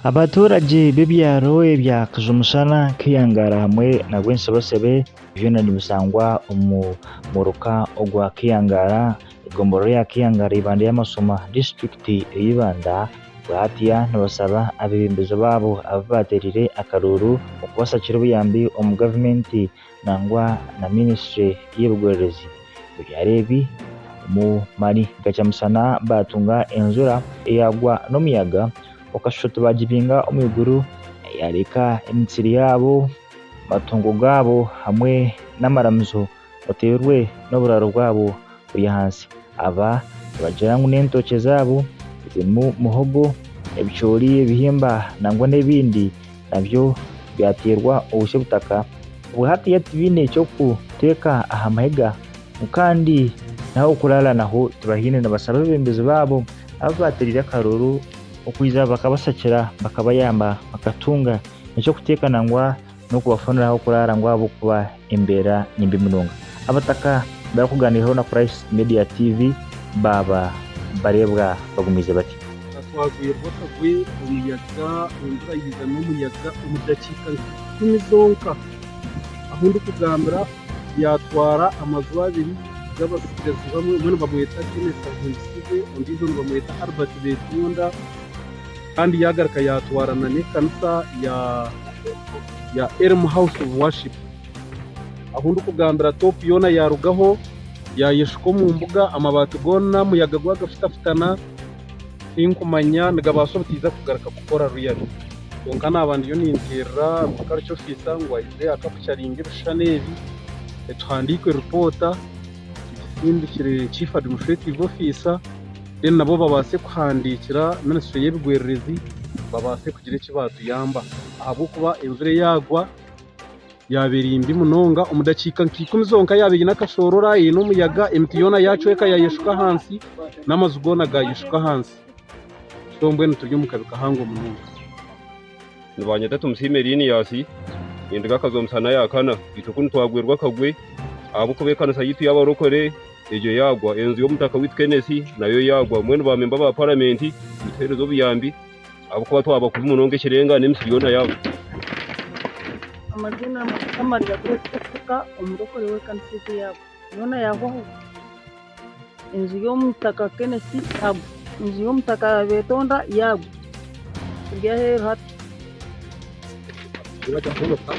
Abaturage b'ebyaro ebya Kijumusana, Kiyangara hamwe na Bwensebesebe byona nibisangwa omu muruka ogwa Kiyangara, egombolola ya Kiyangara Ibanda Yamashoma, disiturikiti eye Ibanda, bwahatiya nibasaba abebembezi baabo abu baterire akaruuru okubashakira obuyambi omu gavumenti. nangwa na ministry y'ebigwererezi ebyaro ebi omu mani gakya musana batunga enjura eyagwa n'omuyaga okashusha tibagibinga omu iguru eyareka emitsiri yabo, amatungo gabo hamwe n'amaramizo oterwe n'oburaro bwabo. buri ahansi. Aba nibagira ngu n'entookye zaabo zirimu muhogo, ebicoori, ebihimba nangwa n'ebindi nabyo byateerwa obutsya obutaka obwo hatiiya tibaine eky'okuteeka aha mahega ngu kandi n'ah'okuraara naho tibahaine. Nibasaba abeebembezi baabo abu baateereire akaruru okwija bakabashakira bakabayamba bakatunga eky'okuteeka nangwa n'okubafunira ah'okuraara ngu ahabw'okuba embeera ni mbi munonga. Abataka barikugaaniiraho na Christ Media TV baaba bareebwa bagumiize batya. Ka twagwirwa akagwe, omuyaga, enjura yaiza n'omuyaga omu dakiika nka ikumi zonka, ahu ndikugambira yaatwara amaju abiri g'abatsigazi bamwe, omwe nibamweta Kenneth Ahimbisibwe ondiijo nibamweta Albert Beetonda. Kandi yaagaruka yaatwarana n'ekanisa ya ya Elim House of Worship. Ahu ndikugambira top yoona yaarugaho yaayeshuka omu mbuga, amabaati goona omuyaga gwagafutafutana. Tinkumanya nigabaasa obutaiza kugaruka kukora really. Kwonka naaba ndiyo ninteerera Agriculture Officer ngu aije akakucaringe ebishushani ebi, tuhandiike ripoota tugisindikire Chief Administrative Officer. then nabo babaase kuhandiikira ministry y'ebigwererezi babaase kugira eki baatuyamba ahabw'okuba enjura eyaagwa yaaba eri mbi munonga omu dakiika nka ikumi zonka yaaba eine akashoorora eine omuyaga emiti yoona yaacweka yaayeshuka ahansi n'amaju goona gaayeshuka ahansi so mbwenu turi omu kabi kahango munonga. Nibanyeta Tumusiime Liniasi, nindiga akazo omusana yakana. Itwe kunu twagwerwa akagwe ahabw'okuba ekanisa yaitu y'abarokore egyo yagwa. Enju y'omutaka waitu Kenesi nayo yagwa. Mbwenu bamemba ba paramenti nituhereza obuyambi ahabw'okuba twaba kubi munonga ekirenga n'emisiri yoona yagwa. Amazima Mukama aryakureetwa kuhika omurokore w'ekanisa egyo yagwa yoona yahwaho. Enju y'omutaka Kenesi yagwa. Enju y'omutaka Betonda yagwa. Eri aheeru hati. Riba ryahumuka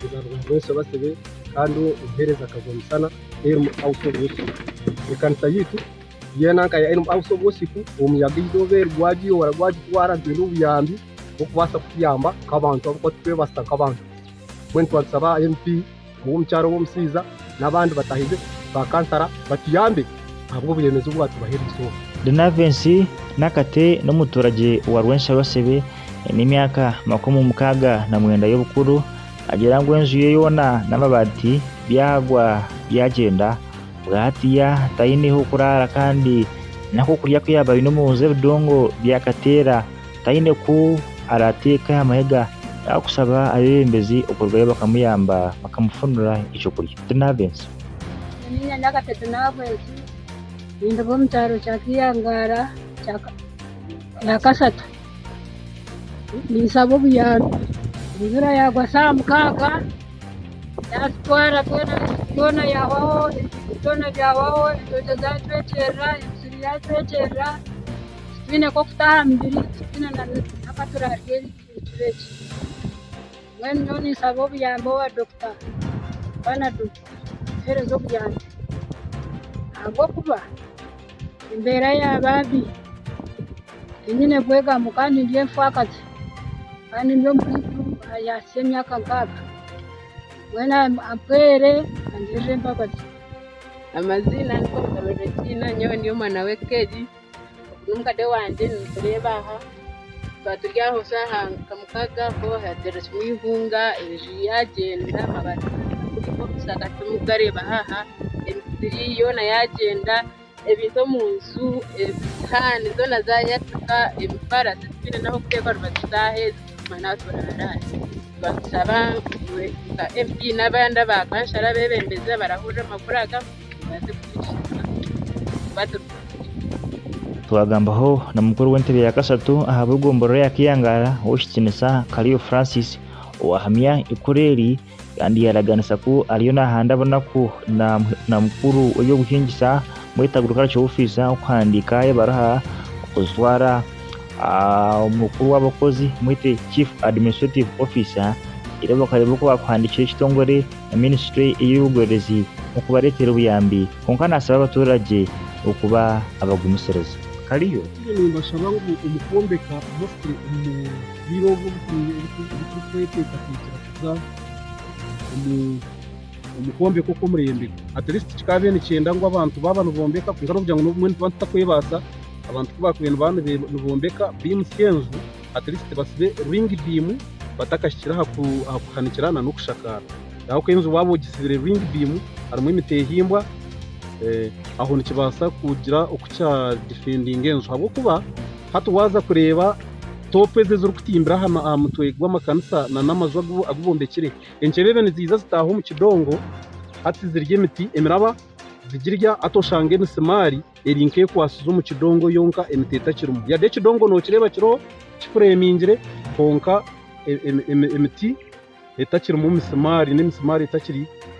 kuza ruguru rw'ensi ebasebe kandi omuheereza akagwa musana Elm House of Worship. Ekanisa yaitu yeena nka ya Elm House of Worship omuyaga eizooba eri gwagiyoora gwagitwara nitwenda obuyambi bw'okubaasa kutuyamba nk'abantu abu kuba turikwebasita nk'abantu. Mbwenu twatusaba MP. ow'omukyaro w'omushaija n'abandi batahize ba kansara batuyambe ahabw'oburemeezi obu baatubaho eri izooba. Linavensi Nakate n'omuturage wa Rwenshabasebe aine emyaka makumi mukaaga na mwenda y'obukuru. Agira ngu enju ye yoona n'amabaati byagwa byagyenda. Bwahatiya taine h'okuraara kandi n'akokurya aku yaaba aine omu nju ebidongo byakateera taine ku araateeka aha mahega yaakushaba abeebembezi okurugayo bakamuyamba bakamufunira eky'okurya. Tinaabenzi. Nyowe nda Kate Tinaabenzi, ninduga omu kyaro kya Kiyangaara ya Kasatu. Ninsaba obuyambi. Enjura yaagwa saaha mukaaga, yaatutwara twena, byona byahwaho, ebintu byona byahwaho, entookye zaatwekyerera, emisiri yaatwekyerera. titwine nk'okuta aha mibiri titwine n'akatura ahari egi micwe egi. Mbwenu nyowe ninsaba obuyambi owa Dokita Panado atuhereze obuyambi ahabw'okuba embeera yaaba mbi tinyine bwegamu kandi ndi enfakazi kandi ndi omuntu ayahikire emyaka nkaaga. Mbwenu ampwere angirire embabazi. Amaziina ni Konsolo Regina nyowe ndi omwana w'eka egi. N'omukade wangye nimutureeba aha, twaba turi aho shaaha nka mukaaga aho haateerwamu eihunga, enju yaagyenda, amabaati gaabuuka timukugareeba aha, emisiri yoona yaagyenda, ebintu omu nju, esihaani zoona zaayatsika, emifaarasi titwine n'ah'okuteeka orubaju tutaheeza tuguma n'aha turaara. Nitubaasa kushaba nka MP n'abandi abakansara abeebembezi abarahurira amakuru aga. baze kuhwesheza baze kuhwesheza. Twagambaho na mukuru w'entebe ya kasatu aha b'egomborora ya Kiyangaara ow'ekitiinisa Kaliyo Francis owahamya ikura eri kandi yaraganisa ku ariyo nahanda bunaku na na mukuru w'ebyobuhingisa Mweta Agricultural Officer okuhandiika ebaruha okuzitwara aha mukuru w'abakozi Mwete Chief Administrative Officer reero bakareeba oku bakuhandikira ekitongore na minisitule ey'eby'obwebezi okubareetera obuyambi kwonka naasaba abaturage okuba abagumisiriza. Kariyo. Nyowe nimbashaba ngu omu kwombeka hositero omu bwire obu turikweteekateekyera kuza omu kwombeka okw'omurembe, atirisiti kikaabaire nikyenda ngu abantu baaba nibombeka kwonka n'okugira ngu obumwe nituba tutarikwebaasa, abantu ku baakubaire nibaaba nibombeka biimutsya enju, at least basibe ring beam batakahikire aha kuhanikira na n'okushakaara. Ahabw'okuba enju waaba ogisibire ring beam harimu emiti ehimbwa aho nikibaasa kugira oku kya difendinga enju ahabw'okuba hati waaza kureeba top ezi ezirikutimbira aha mutwe gw'amakanisa na n'amaju agu bombekire enkyebebe niziija zitaaha omu kidongo hati zirye emiti emiraba zigirya hati oshange emisimaari. Eri nk'ekwatsize omu kidongo yonka emiti etakirimu. Yade ekidongo nokireeba kiriho kifuremingire kwonka emiti etakirimu misimaari n'emisimaari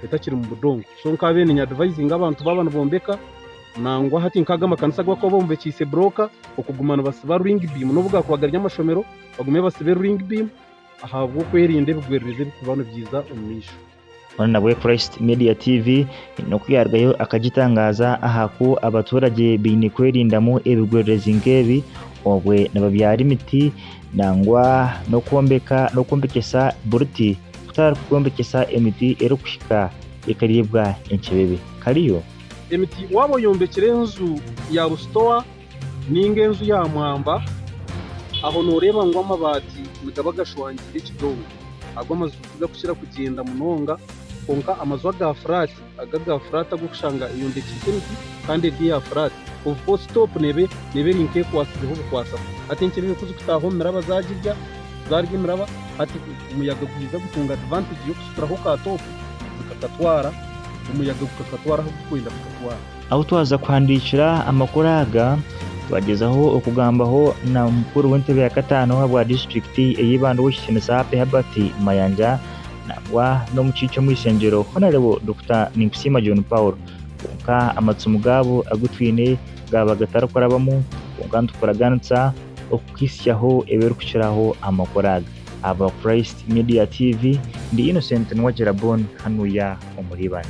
etakiri mu budongo. So nkabire ninyadivayizinga abantu baaba nibombeka nangwa hati nk'aga amakanisa agu barikuba bombekyeise burooka okuguma nibatsiba ruringi biimu n'obu gaakuba gari amashomero bagume batsibe ruringi biimu ahabw'okwerinda ebigwererezi ebirikuba nibiija omumaisho. Hoona nabwo Christ Media TV haine oku yaarugayo akagitangaaza aha ku abaturage baine kwerindamu ebigwererezi nk'ebi obwe nibabyara emiti nangwa n'okwombeka n'okwombekyesa buruti kutari kwombekyesa emiti erikuhika ekareebwa encebebe. Kariyo? Emiti waaba oyombekire enju yaabu sitowa. Ninga enju ya mwamba, aho nooreeba ngu amabaati nigaba gashwangiire ekidobo. Ago amaju tigakukira kugyenda munonga, kwonka amaju aga furaati, ago aga furaati ag'okushanga eyombekiise emiti kandi eri eya furaati, obu full stop neeba neeba eri nk'ekwatsizeho bukwatsa. Hati enkyebebe ku zikutaaha omu miraba zaagirya, zaarya emiraba, hati omuyaga gwija gutunga advantage y'okusituraho ka top, zikakatwara, omuyaga gukakatwara ahu gurikwenda kukatwara. Ahu twaza kuhandiikira amakuru aga, twagyezaho okugambaho na mukuru w'entebe ya kataano owa bwa disiturikiti ey'eibanda ow'ekitinisa Happy Herbert Mayanja nangwa n'omukiikye omw'ishengyero Honarebo Dokita Ninkusiima John Paul kwonka amatsimu gaabo agu twine gaaba gatarikurabamu kwonka nitukuragaanisa okukuhitsyaho ebirikukiraho amakuru aga. Aba Christ Media TV, ndi Innocent Nwagira Bon hanuya omuri Ibanda.